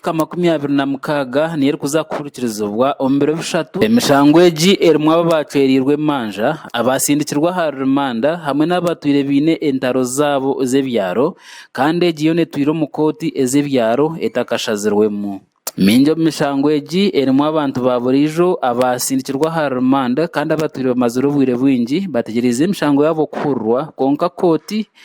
ka makumi abiri na mukaaga niyo erikuza kuhurikirizibwa omu biro bishatu. Emishango egi erimu abo abaacwereirwe emanja, abaatsindikirwe aha rimanda hamwe n'abatwire baine entaro zaabo z'ebyaro kandi egi yoona etwirwe omu kooti ez'ebyaro etakashazirwemu. Mingi omu mishango egi erimu abantu ba buriijo abaatsindikirwe aha rimanda kandi abatwire bamazire obwire bwingi bategyereize emishango yaabo kuhurirwa kwonka kooti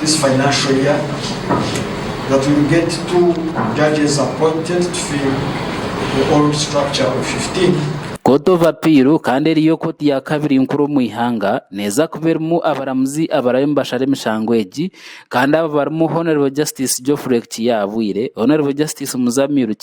this financial year that will get two judges appointed to fill the old structure of 15. Court of Appeal kandi eri yo kooti ya kabiri nkuru omu ihanga neeza kuba erimu abaramuzi abarabe nibashara emishango egi kandi abo barimu Hon Justice Geoffrey Kiiya Abwire, Hon Justice Muzamiru Kiiya,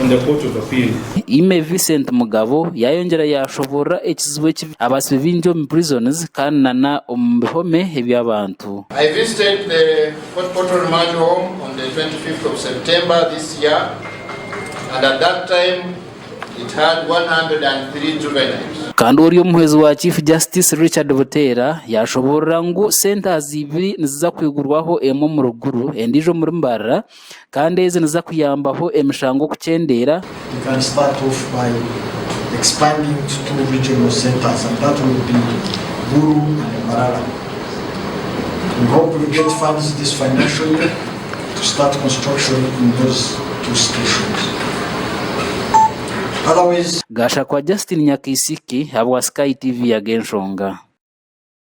on the Court of Appeal. Ime Vincent Mugabo yayongyera yashoborora ekizibu eki abasibe bingi omu prisons kandi na na omu bihome eby'abantu. I visited the Fort Portal Remand Home on the 25th of September this year and at that time it had 103 juveniles. Kandi ori omuhwezi wa Chief Justice Richard Buteera yashoborora ngu centers ibiri niziza kwigurwaho emwe omu Ruguru endijo omuri Mbarara kandi ezi niziza kuyambaho emishango kukyendeera. Gashakwa Justine Nyakaisiki ahabwa Sky TV Yaga Enshonga.